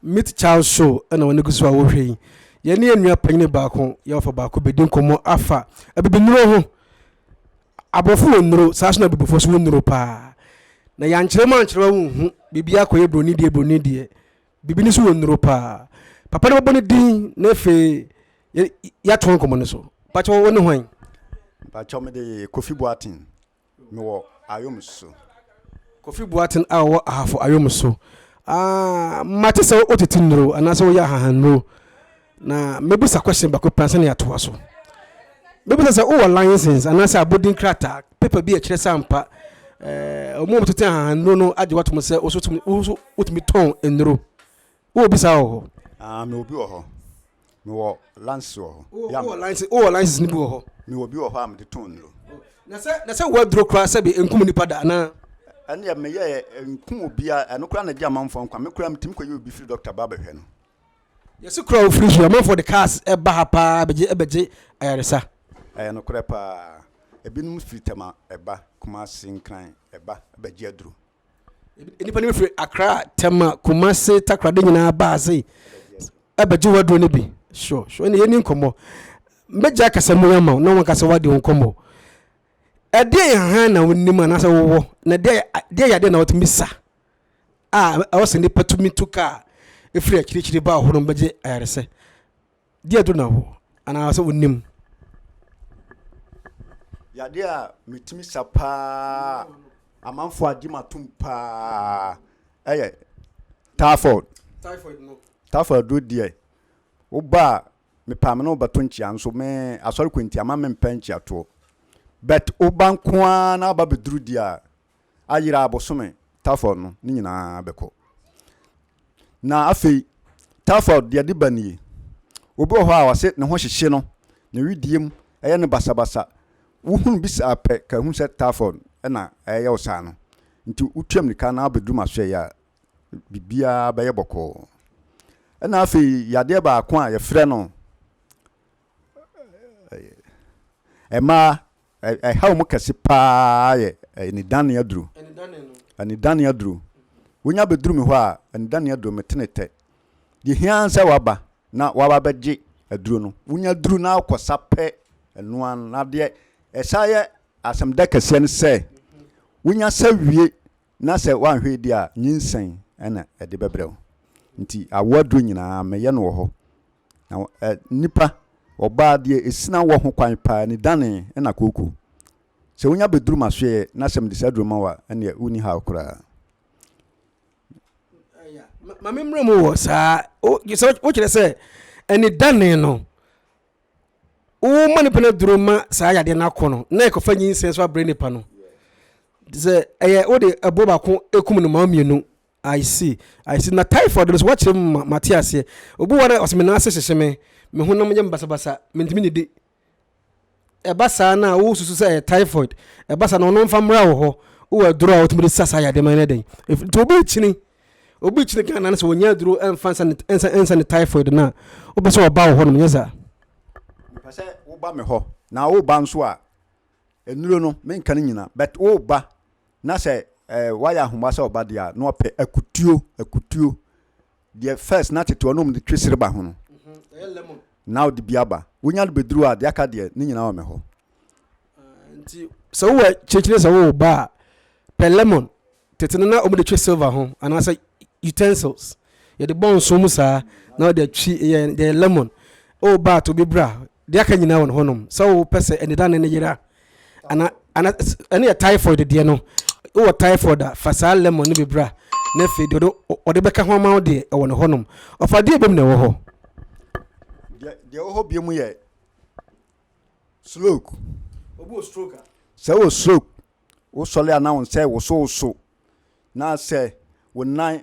Meet Child Show na wɔn gu so a wɔhwɛ yi. Yɛne yɛn nua panyin baako yɛwɔfa baako bɛdi nkɔmmɔ afa abibinuro ho. Aborɔfo wɔ nnuro saa so na abibifo so wɔ nnuro paa. Na yɛankyerɛ mu ankyerɛ wo nhu biribi akɔyɛ buroni deɛ buroni deɛ. Biribi no so wɔ nnuro paa. Papa no bɛbɔ ne din na afei yɛatoa nkɔmmɔ no so. Pakyɛ wo ne hwan? Pakyɛ me de Kofi Boaten. Me wɔ Ayom so. Kofi Boaten a ɔwɔ Ahafo Ayom so. Ah, mate sɛ wotete nnuro anaasɛ woyɛ ahahannuro. Na mɛbisa question baako pɛ ansa na yɛatoa so. Mɛbisa sɛ wowɔ license anaasɛ abodin krataa, paper bi a ɛkyerɛ sɛ ampa ɛɛ wɔn a wɔtete ahahanuro no agye watom sɛ woso tumi woso wotumi tɔn nnuro. Wowɔ bi saa wɔ hɔ? Ah, mewɔ bi wɔ hɔ. Mewɔ license wɔ hɔ. Wowɔ wowɔ license wowɔ license no bi wɔ hɔ? Mewɔ bi wɔ hɔ a mede tɔn nnuro. Na sɛ na sɛ woaduro koraa sɛ bi nkum nipa da anaa? ɛne meyɛ nkum obiara ɛno koraa na gye amanfoɔ nkwa me koraa metumi kɔyɛ obi firi dɔkta ba bɛhwɛ no Yɛse kuro a ofiri so yi amanfoɔ de cars ba ha paa bɛgye bɛgye ayaresa. Ɛyɛ nokorɛ paa. Ebinom firi Tema ba, Kumasi, Nkran ba bɛgye aduro. Nnipa no bi firi Accra, Tema, Kumasi, Takoradi nyinaa ba ha sei bɛgye wo aduro no bi. Sure sure ɛna yɛni nkɔmmɔ. Mɛgyae kasa mu yi ama wo na wanka sɛ wadi wo nkɔmmɔ. Ɛdeɛ yɛ hann na wonim anaasɛ wowɔ na ɛdeɛ yɛ adeɛ na wotumi sa. a ɛwɔ sɛ nnipa tumi tu ka a ɛfiri akyirikyiri ba hɔ no bɛgye ayaresa? Deɛ ɛdo na wɔ anaa sɛ wonim? Yadeɛ a metumi sa paa amanfoɔ agye matom paa ɛyɛ typhoid typhoid do deɛ woba a mepaa me ne wobɛto nkyea nso me asɔre kɔ nti ama mempɛ nkyeatoɔ but woba nko ara na aba bɛduru deɛ a ayera a bosome Tafɔt no, ne nyinaa bɛkɔ. Na afei, Tafɔt deɛ ɛde ba nie, Obi wɔ hɔ a ɔse ne ho hyehye no, ne wedeɛ mu yɛ no basabasa, wohunu bi saa pɛ, ka hunu sɛ Tafɔt na ɛreyɛ wo saa no, nti wotua mmirika na wobɛduru m'asoɛeɛ a, biribiara bɛyɛ bɔkɔɔ. Ɛna afei, yadeɛ baako a yɛfrɛ no ɛmaa Ɛhaw mu kɛse paa yɛ anidane aduru. Anidane aduru. Wonya bɛduru me hɔ a, anidane aduru, metene tɛ. Deɛ hia ara sɛ waba na waba bɛgye aduro no. Wonya aduru na wokɔsa pɛ, ɛno ara no. Na deɛ ɛsan yɛ asɛmda kɛseɛ ne sɛ, wonya sa wie na sɛ woanhwɛ adi a nyinsɛn na ɛde bɛbrɛ wo. Nti awo aduro nyinaa mɛyɛ no wɔ hɔ. Na ɛ, nnipa, ɔbaa deɛ ɛsina wɔ ho kwan paa ni dane na kooko. Sɛ wonya bɛduru m'asoɛeɛ na sɛ mede saa aduro ma wo a, ɛnneɛ wonni haw koraa. Ma memmrɛ mu wɔ saa. Wo, sɛ wokyerɛ sɛ ɛne dane no, woma nipa no aduro ma saa yadeɛ no akɔ no na ɛkɔfa nyinsɛn so abrɛ nipa no sɛ ɛyɛ wode ɛboɔ baako ɛkum no ma mmienu I see, I see. Na typhoid no so wakyerɛ mu ma mate aseɛ. Obi wɔ na ɔsɛ me nan ase hyehye me, me honam yɛ me basabasa, mentumi nnidi. Ɛba saa na wosusu sɛ ɛyɛ typhoid. Ɛba saa na ɔno mfa mmra wɔ hɔ. Wowɔ aduro a wotumi de sa saa yadeɛ no yɛ dɛn? Nti obi kyini obi kyene ghana no sɛ wɔnya aduro ɛmfa nsa ne typhoid no a wopɛ sɛ ɔba wo hɔ nom nyɛ saa mepɛ sɛ woba me hɔ na woba nso a nnuro no menka no nyina but woba na sɛ eh, woayɛ ahoma sɛ ɔba deɛ a na ɔpɛ akutuo akutuo deɛ first na tete ɔnom de twe sereba ho no mhm, na wode bi aba wonya no bɛduru a deɛ aka deɛ ne nyina wɔ me hɔ Nti sɛ wowɔ akyirikyiri sɛ wowɔ ba a, pɛ lemon. Tete no na wɔde twe silver ho anaasɛ utensils. Yɛde bɔ nso mu saa na wɔde atwi yɛ yɛ lemon. Wowɔ ba a to bi bra. Deɛ aka nyinaa wɔ no hɔnom. Sɛ wopɛ sɛ anidane no yera ana ana ɛne yɛ typhoid deɛ no. Wowɔ typhoid a fa saa lemon no bi bra na afei deɛ ɔde ɔde bɛka ho ama wo deɛ ɛwɔ no hɔnom. Ɔfa deɛ bom na ɛwɔ hɔ. Deɛ deɛ ɛwɔ hɔ bio mu yɛ. Stroke, Obi wɔ stroke a? Sɛ wowɔ stroke, wosɔre a na wo nsa rewosowoso, na sɛ wo nan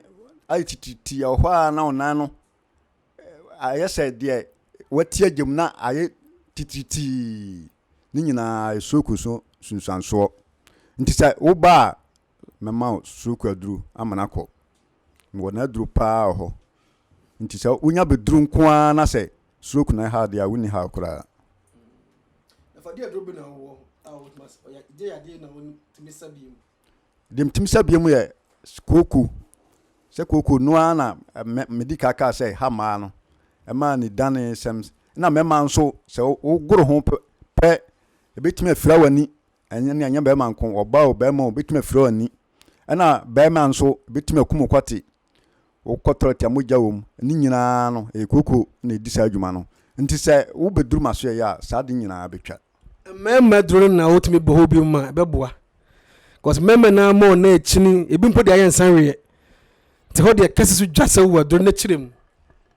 ayɛ tititi, ɛwɔ hɔ a na wo nan no ayɛ sɛ deɛ wati agya mu na ayɛ titiritii. Ne nyinaa yɛ stroke so nsunsuansoɔ. Nti sɛ woba a, mɛma wo susuruku aduru ama no akɔ. Mewɔ n'aduru paa wɔ hɔ. Nti sɛ wonya bɛduru nko ara na sɛ suruku na ɛha adeɛ a, wonni haw koraa. Deɛ metumi sa biom yɛ kooko. Sɛ kooko no ara na medi ka kaa sɛ ɛha mmaa no, ɛma anidanesɛm. Ɛna mmarima nso sɛ wogoro ho pɛ, ɛbɛtumi afira w'ani Ɛnyɛ ne ɛnyɛ bɛrima nko, ɔbaa o, bɛrima o, bɛtumi afira w'ani. Ɛna bɛrima nso, bɛtumi akum wo kwate. Wokɔ tɔlɛt a mogya wɔ mu. Ne nyinaa no, ɛyɛ kooko na ɛdi saa adwuma no. Nti sɛ wobɛduru m'asoɛeɛ a, saa ade nyinaa bɛtwa. Mmarima duru no na wotumi bɔ hɔ bi mu a, ɛbɛboa. Cause mmarima no ara ma wɔn nan akyini, ɛbi mpo deɛ ayɛ nsanweeɛ. Nti hɔ deɛ kɛse so dwa sɛ wowɔ aduru no akyire mu.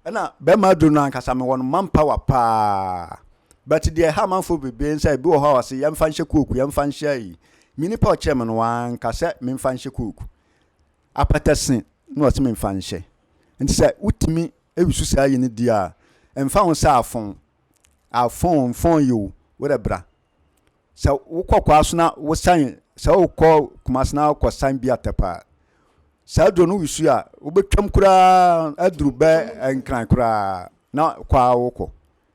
Ɛna bɛma du no ankasa mewɔ no man power paa but deɛ ɛha amanfoɔ bebree ne sɛ ebi wɔ hɔ a ɔse yɛmfa nhyɛ kooku yɛmfa nhyɛ ayi me nipa a ɔkyerɛ me no wanka sɛ memfa nhyɛ kooku apɛtɛ se na ɔse memfa nhyɛ nti sɛ wotumi wusu saa ayi no di a ɛmfa ho sɛ afon afon mfon yi o wode bra sɛ wokɔ kwaaso na wosan sɛ wokɔ kumase na wokɔ san bi atɛpɛ a saa aduro no wusu a wobɛtwam koraa aduru bɛ nkran koraa na kɔ a wokɔ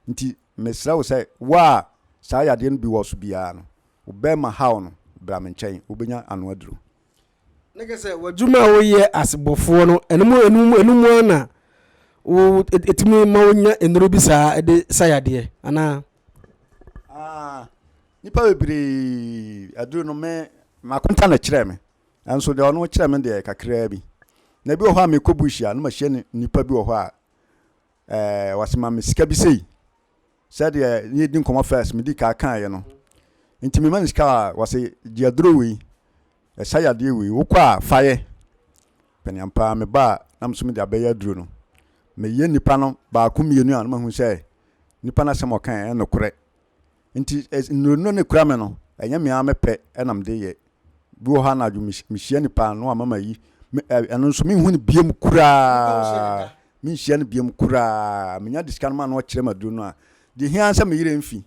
nti mesrɛ wo sɛ wo a saa yadeɛ no bi wɔ so biara no wobɛma haw no bra me nkyɛn wobɛnya ano aduro Na kyerɛ sɛ w'adwuma a woyɛ as bɔfoɔ no, ɛno mu ɛno mu ɛno mu ara na wo ɛtumi ma wonya nnuro bi saa ɛde sa yadeɛ anaa? Ah, nipa bebree aduro no me makonta na kyerɛ me nso deɛ ɔno kyerɛ me deɛ kakraa bi na ebi wɔ hɔ a mekɔ bush a na mahyia nipa bi wɔ hɔ a ɛɛ eh, wasema me sika bi sei Sɛdeɛ ne yɛdi nkɔmmɔ first medi kaa kaeɛ no nti mema no sika a wɔse gye aduro wei ɛsa yadeɛ wei wokɔ a fayɛ pɛne ampaa meba a na meso mede abɛyɛ aduro no meyɛ nipa no baako mmienu a na mahu sɛ nipa no asɛm ɔka ɛyɛ nokorɛ nti nnuro no ne kura me no ɛnyɛ me ara mepɛ ɛna mede yɛ Bi wɔ hɔ anadwo mehyia nipa ano a mama yi ɛno nso menhu no biam koraa menhyia no biam koraa menya de sika no ma no ɔkyerɛ ma duro no a de hia sɛ meyere mfi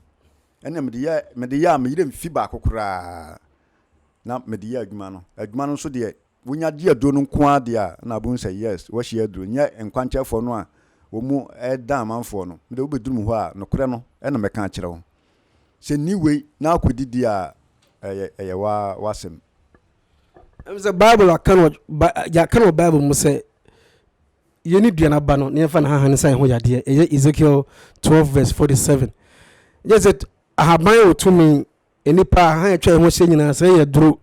ɛne mede yɛ mede yɛ a meyere mfi baako koraa na mede yɛ adwuma no adwuma no nso deɛ wonya gye aduro no nko ara deɛ a na abom sɛ yes wɔahyia aduro nyɛ nkwankyɛfoɔ no a wɔn mu ɛda amanfoɔ no mede wobɛduru mu hɔ a nokorɛ no ɛna mɛka akyerɛ wo sɛ nni wei na akɔdi deɛ a, ɛyɛ, ɛyɛ wo ara w'asɛm. Ɛfiri sɛ Bible aka no, yɛaka no wɔ Bible mu sɛ, Yei ne dua no aba no, na yɛmfa no hanhane nsa yɛn ho yadeɛ. Ɛyɛ Ezekiel 12 vs 47. Gye sɛ ahaban wɔ tumi, nnipa, ahan a atwa yɛn ho ahyia nyinaa, sɛ ɛyɛ duro,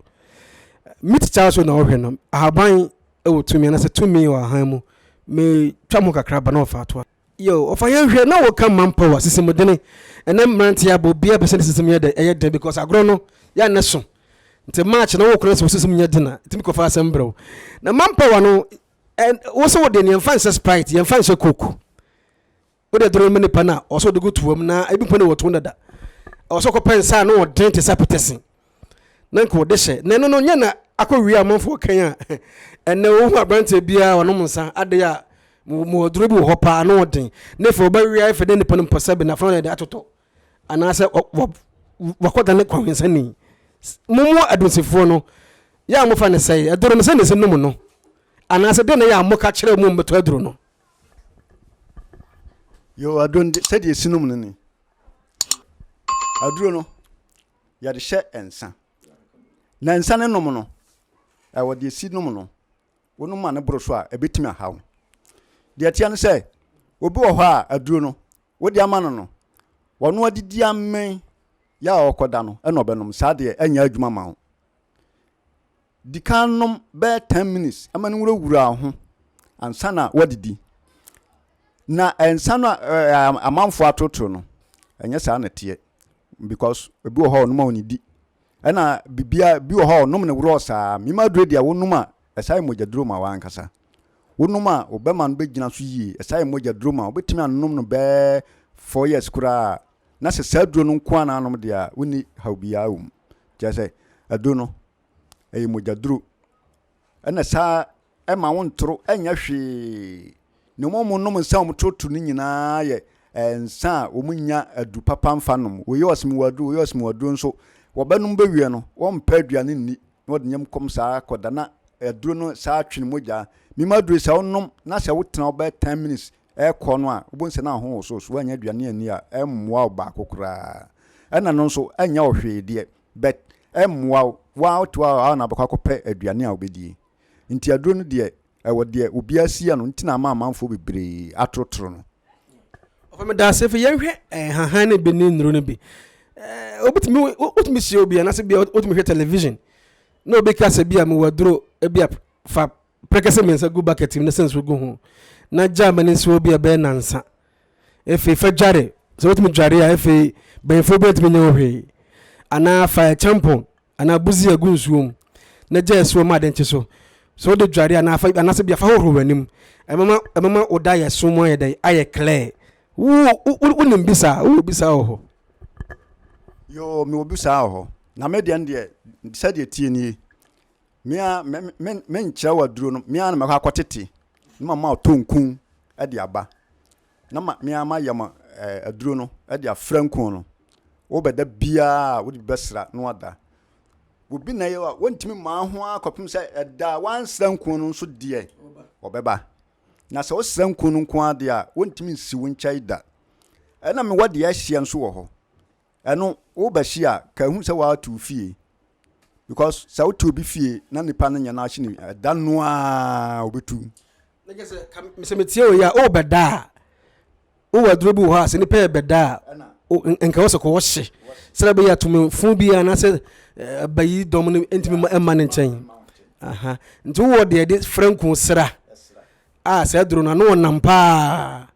meat kyaw so na wohwɛ no, ahaban wɔ tumi, anaasɛ tumi wɔ ahan mu. Metwa mu kakra ba na wɔfa atoa. Yo, ɔfa yɛn hwɛ na wɔka man power sisimudene ɛnɛ mmeranteɛ abɔ obiara pɛ sɛ ne sisim yɛ dɛ ɛyɛ den because agorɔ no yɛ a nɛ so nti match na wokora sɛ wo sisim nyɛ den a ɛtumi kɔfa asɛm brɛ wo na man power no ɛn wo sɛ wode ne yɛmfa nhyɛ sprite yɛmfa nhyɛ coke wode aduro ma nipa no a ɔsɛ wode gu toam na ebi mpo ne wɔtoɔ dada ɔsɛ kɔpɛ nsa a na ɔden te sɛ apɛtɛsen na nka ɔde hyɛ na ɛno no nyɛ na akɔwie amanfoɔ kan a ɛnɛ wohu aberanteɛ biara ɔnom nsa adeɛ a mu ɔduro bi wɔ hɔ paa na ɔden na afei ɔbɛwea afei na nipa no mpɔ sɛ benafo na ɛde atotɔ anaasɛ wakɔda ne kɔhwensani momu adonsifoɔ no yɛ a mofa ne sɛe aduro no sɛ ne sɛ nom no anaasɛ dɛn na yɛ a moka kyerɛ mu mmɛtɔ aduro no yɛ aduro no sɛdeɛ ɛsi nom no ni aduro no yɛde hyɛ nsa. Na nsa no nom no, ɛwɔ deɛ si nom no, wonom ma no boro so a, ɛbɛtumi aha wo. Deɛ ɛteɛ no sɛ, obi wɔ hɔ a aduro no wode ama no no, ɔno adidi amee yɛ a ɔkɔda no ɛna ɔbɛnom. Saa deɛ ɛnyɛ adwuma ma wo. Di kan nom bɛyɛ ten minutes ma no nwurawura wo ho ansa na woadidi. Na nsa no a amanfoɔ atorotoro no, ɛnyɛ saa na ɛteɛ because ebi wɔ hɔ a wɔnom a wɔnnidi. Ɛna biribiara bi wɔ hɔ a wɔnom no worɔɔ saa. Mim aduro deɛ wonom a ɛsa yɛ mogyaduro ma wo ankasa. Wonom a wo bɛma no bɛgyina so yie, ɛsa yɛ mogyaduro ma wo. Wobɛtumi anom no bɛyɛ four years koraa na sɛ saa aduro no nko ara na wonom deɛ a wonni haw biara wɔ mu. Kyerɛ sɛ aduro no ɛyɛ mogyaduro. Ɛna saa ɛma wontoro nyɛ hwee. Nea wɔnom nsa a wɔtoro toro no nyinaa yɛ nsa a wɔnya aduru papa mfa nom. Wɔyɛ ɔsimiwa aduro, wɔyɛ ɔsimiwa aduro nso wɔbɛnom bɛwie no, wɔmpɛ aduane nni na wɔde nyam kɔm saa kɔda na aduro no saa twe ne mogya. Mima aduro sɛ wonom na sɛ wotena hɔ bɛyɛ ten minutes ɛkɔ no a, wobɛhu sɛ na wo ho woso so. Woannya aduane anni a, ɛmmoa wo baako koraa. Ɛna no nso ɛnyɛ wo hwee deɛ. but ɛmmoa wo, woaa wotoa hɔ ara na wobɛkɔ akɔpɛ aduane a wobɛdie. Nti aduro no deɛ ɛwɔ deɛ obiara si yɛ no nti na ama amanfoɔ bebree atorotoro no. Ɔfa me daaseɛ fɛ yɛnhwɛ nhahan no bi ne nnuro no bi. Wobɛtumi wotumi hyia obi anaasɛ bia wotumi hwɛ television na obi kasa bia mewɔ aduro bia fa Prekɛsɛ mmiɛnsa gu bucket mu na sɛ nsuo gu ho na gyaa ma no nsi hɔ bi a ɛbɛyɛ nansa. Afei fa dware. Sɛ wotumi dware a afei banyinfoɔ bi ntumi nyɛ ho hwee. Anaa fa ɛkyɛmpɔn anaa buzia gu nsuo mu na gya ɛsi hɔ ma ade nkye so. Sɛ wode dware anaa fa anaasɛ bia fa hohoro w'anim. Ɛbɛma ɛbɛma wo da yɛso mu ayɛ dɛn ayɛ clear. Wo wo wonim bi saa? Wowɔ bi saa wɔ hɔ? Yoo mewɔ bi saa wɔ hɔ. Na me deɛ no deɛ sɛdeɛ ɛteɛ nie. Me ara me me menkyerɛw aduro no me ara na mɛkɔ akɔtete na mama ɔtɔ nku de aba na ma me ara mayɛ ma ɛɛ aduro no de afra nku no wobɛda biara a wode bi bɛsra na wada obi na yɛ a wɔntumi maa ho ara kɔpem sɛ ɛda a wansra nku no nso deɛ ɔbɛba na sɛ wosra nku no nko ara deɛ a wɔntumi nsi wo nkyɛe da ɛna mewɔ deɛ ahyia nso wɔ hɔ Ɛno wo ba si a ka hu sɛ waa tu fie because sɛ wo tu obi fie na nipa no nyɛ n'akyi ne ɛda no a obi tu. Ne kɛ sɛ ka mesɛ me tie oyɛ a o bɛ da a o wɔ aduro bi wɔ hɔ a sɛ nipa yɛ bɛ da a o nka wɔ sɛ kɔ wɔ hye sɛdɛ bɛ yɛ atumi fun bi a na sɛ bayi dɔm no ntumi ɛma ne nkyɛn aha nti wɔ deɛ de frɛ nko sra. A, saa aduro no, ano ɔnam paa.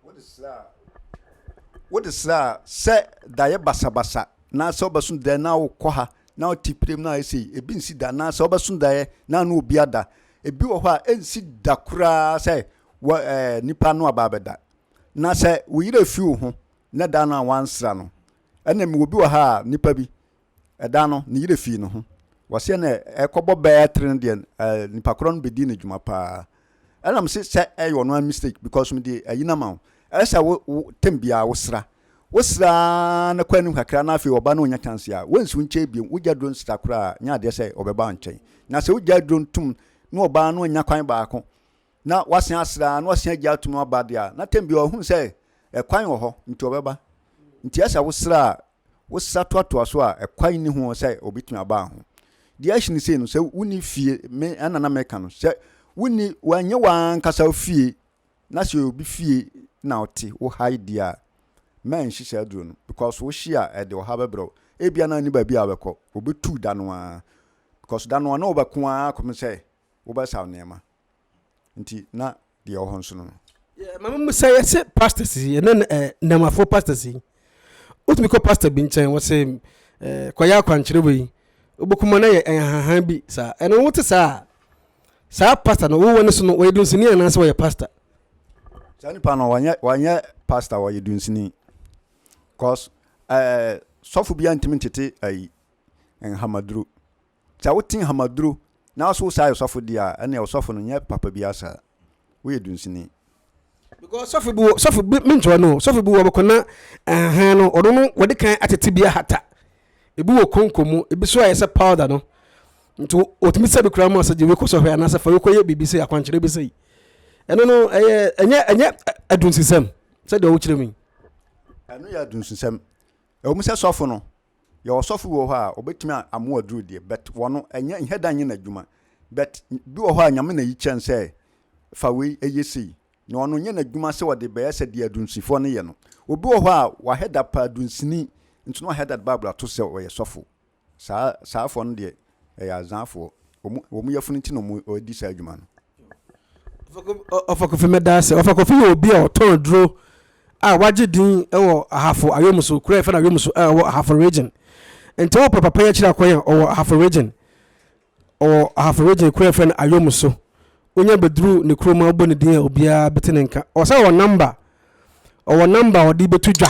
Wode srɛ a, sɛ daeɛ basabasa, anaasɛ wobɛso daeɛ na wokɔ ha, na wote piram na ayɛ sei, ebi nsi da, anaasɛ wobɛso daeɛ na ano obi ada. Ebi wɔ hɔ a, ɛnsi da koraa sɛ wɔ ɛɛ nipa ano aba abɛda. Na sɛ wo yere afi wo ho, na da no a wansra no, ɛna mewɔ bi wɔ ha a, nipa bi, Da no, ne yerɛ fii ne ho. Wɔseɛ no ɛkɔbɔ bɛɛ tire no deɛ nipa korɔ no bɛdii no dwuma paa. Ɛna mo se sɛ ɛyɛ ɔno a mistake because me de ayi no ama wo. Ɛyɛ sɛ wo wo tem biara wo sra. Wo sra na kɔ anim kakra na afei ɔba na ɔnya chance a wo nsi wo nkyɛn bio. Wo gya duro nsra koraa nyɛ adeɛ sɛ ɔbɛba wo nkyɛn. Na sɛ wo gya duro ntom na ɔba na ɔnya kwan baako na wasen asra na wasen agya atom aba deɛ a na tem biara ɔhunu sɛ ɛkwan wɔ hɔ nti ɔbɛba. Nti ɛyɛ sɛ wo sra a wosa toatoa so a, ɛkwan nni ho sɛ obetumi aba ho. Deɛ ɛhyɛ no sei no, sɛ wonni fie, me ɛna na meka no, sɛ wonni, wanyɛ w'ankasa fie, na sɛ obi fie na ɔte wo ha yi deɛ a, mma ɛnhye saa aduro no, because wohye a, ɛde ɔha bɛbrɛ wo. Ebia na nni baabi a wobɛkɔ, obetu da no ara, because da no ara na wobɛko ara kɔpem sɛ wobɛsaw nneɛma. nti na deɛ ɔwɔ hɔ nso no no. Maame mu sɛ yɛse pastors yi ɛnɛ na ɛɛ nnɛmafoɔ pastors yi wotumi kɔ pastor bi nkyɛn wɔse ɛɛ kɔyɛ akwankyerɛ wei wobɛkuma na yɛ ɛnhahan bi saa ɛno wote saa a saa pastor no wowɔ ne so no wɔyɛ dunsini anaasɛ wɔyɛ pastor. saa nipa no wɔnyɛ wɔnyɛ pastor wɔyɛ dunsini cause ɛɛ sɔfo bi antumi ntete ɛyi nhamaduro. Sɛ wote nhamaduro na so wosa yɛ sɔfo deɛ a, ɛneɛ ɔsɔfo no nyɛ papa biara saa. Woyɛ dunsini. Because sɔfo bi wɔ, sɔfo bi, mentoa no o, sɔfo bi wɔ bɛkɔ na nhahan no, ɔno no wɔde kan atete bi ahata. Ebi wɔ konko mu, ebi so ayɛ sɛ powder no. Nti wɔtumi sɛ bi koraa ma sɛ gye wei kɔ sɔhwɛ anaasɛ fa wei kɔ yɛ biribi sei, akwankyerɛ bi sei. Ɛno no, ɛyɛ, ɛnyɛ, ɛnyɛ adunsisɛm sɛdeɛ wokyerɛ mu yi. Ɛno yɛ adunsisɛm. Ɛwɔ mu sɛ sɔfo no, yɛwɔ sɔfo bi wɔ hɔ a obetumi a amoa aduru deɛ but wɔno ɛnyɛ nyɛ da nyɛ n'adwuma but bi wɔ hɔ a nyame na yi kyɛn sɛ fa wei ɛyɛ sei na ɔno nyɛ n'adwuma sɛ ɔde bɛyɛ sɛ deɛ adunsifoɔ no yɛ no obi wɔ hɔ a wahɛ da paa dunsini nti na wahɛ da de bible ato sɛ ɔyɛ sɔfo saa saa foɔ no deɛ ɛyɛ azaafoɔ wɔn wɔn yafunu nti na wɔn ɔdi saa adwuma no. ɔfa kofi mɛda ase ɔfa kofi yɛ obi a ɔtɔn aduro a wagye din wɔ ahafo ayɔmu so kura ɛfɛ na ayɔmu so a ɛwɔ ahafo region nti wɔ pɛ papa yɛ akyire akwan a ɔwɔ ahafo region ɔwɔ ahafo region kura ɛfɛ na ayɔmu so wonya bɛduru ne kurom a wobɔ ne din a obiara bɛte ne nka ɔsɛ ɔwɔ namba ɔwɔ namba ɔde bɛto dwa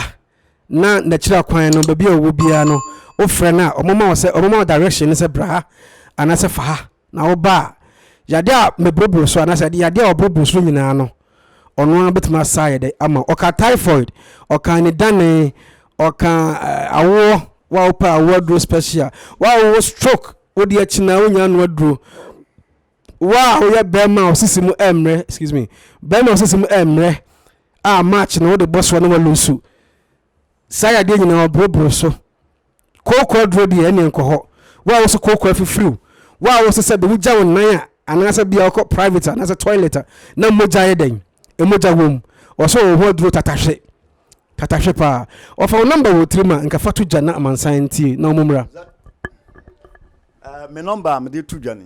na n'akyiri akwan no baabi a ɔwɔ biara no wofrɛ no a ɔmoma wo sɛ ɔmoma wo direction no sɛ bra ha anaasɛ fa ha na woba a yade a meboroboro so anaasɛ yade a ɔboroboro so nyinaa no ɔno ara bɛtumi asa ayɛ dɛ ama ɔka typhoid ɔka anidane ɔka eh, awoɔ wa wopɛ awoɔ aduro special wa wowɔ stroke wode akyinaa wonya ano aduro Wo a woyɛ bɛrima a ɔsisi mu ɛmmerɛ excuse me bɛrima a ɔsisi mu ɛmmerɛ a march no wode bɔ soɔ na walu nsu saa yadeɛ nyinaa ɔboroboro so kooko aduro deɛ ɛne nkɔ hɔ wo a woso kooko afifiriw wo a woso sɛ de wogya wo nan a anaasɛ bia wokɔ private anaasɛ toilet a na mogya yɛ dɛn mogya wom ɔsɛ wɔ ho aduro tatahwe tatahwe paa ɔfa wo nɔmba wɔ tirim a nka fa to gya na amansan ntie na ɔmo mmra ah, me nɔmba a mede to dwa ni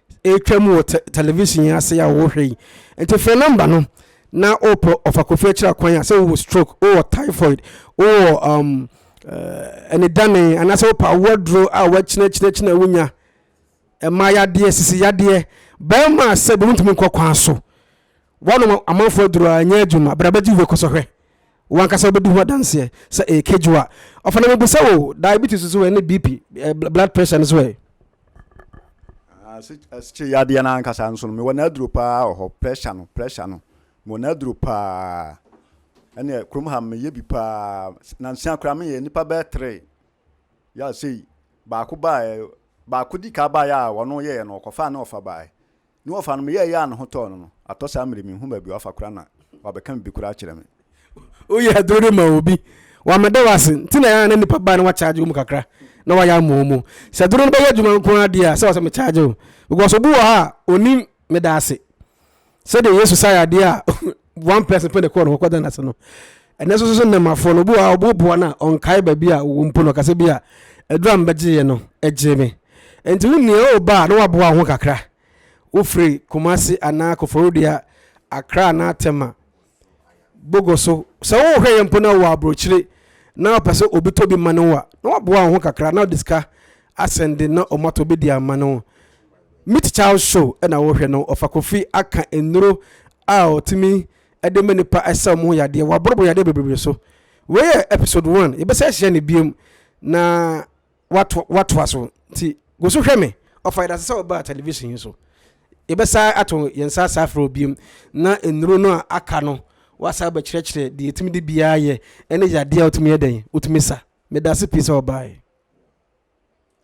ɛretwam wɔ television yi ase a wɔhwɛ yi nti fɛ number no na wopɛ ɔfa kofi akyira kwan a sɛ wowɔ stroke wowɔ typhoid wowɔ um, uh, anidane anaasɛ wopɛ awoaduro a wakyinakyinakyina wonya ɛma yadeɛ sisi yadeɛ bɛrima sɛ bɛmutumi nkɔ kwan so wɔnom amanfoɔ aduro a ɛnyɛ adwuma brabɛgye wobɛkɔ sɔhwɛ W'ankasa wobɛdi ho adanseɛ sɛ ɛyɛ kedwo a. Ɔfa na mebisa wo, diabetes nso ɛ ne BP, eh, blood pressure nso ɛ? Asikye yadeɛ no ankasa nso no, mewɔ n'aduro paa wɔ hɔ, pressure no, pressure no, mewɔ n'aduro paa. Ɛneɛ kurom ha meyɛ bi paa, nansia koraa meyɛ nipa bɛɛ tere. Yɛ sei, baako baa, baako di ka baa yɛ a wɔn yɛɛ no, ɔkɔfaa ne ɔfa baa. Ne wɔfa no me yɛɛyɛ a ne ho tɔɔ no no, atɔ saa mmerɛ yi menhu baabi a wafa koraa na wabɛka biribi koraa akyerɛ me. Woyɛ aduro de ma obi, wammɛda wo ase nti na ɛyɛ a na nnipa ba a na wɔakyagye wɔn mu kakra na wɔayɛ ama wɔn. Sɛ aduro no bɛyɛ adwuma nko ara deɛ a, sɛ wɔ sɛ mekyagye wo because obi wɔ hɔ a ɔnnim meda ase sɛdeɛ Yesu saa yadeɛ a one person pɛ na ɛkɔɔ no hɔ kɔda n'ase no ɛnɛ nso so nnɛmafoɔ no obi wɔ hɔ a ɔboaboa no a ɔnkae baabi a ɔwɔ mpo no ɔkasa bi a aduru a mbɛgyeeɛ no ɛgyee me nti wo nea ɔreba a na waboa wo ho kakra wofiri Kumasi anaa Koforidua Accra anaa Tema Bogo so sɛ wohwɛ yɛ mpo na wɔ aburokyire na ɔpɛ sɛ obi tɔ bi ma no a na waboa wo ho kakra na ɔde sika asɛnde na ɔmatɔ bi de ama no Meet Child show na wo hwɛ no ɔfa Kofi aka nnuro a ɔtumi de ma nipa ɛsɛ ɔmo ho yadeɛ waboro boro yadeɛ bebree so wei yɛ episode one yɛbɛsa ahyia no biom na wato watoa so nti go so hwɛ me ɔfa yɛdase sɛ ɔbaa television yi so yɛbɛsa ato yɛn sa asa afrɛ obiom na nnuro no a aka no wasa abɛkyerɛkyerɛ deɛ yɛtumi de biara yɛ ɛne yadeɛ a wotumi yɛ dɛn wotumi sa medase pii sɛ ɔbaa yi.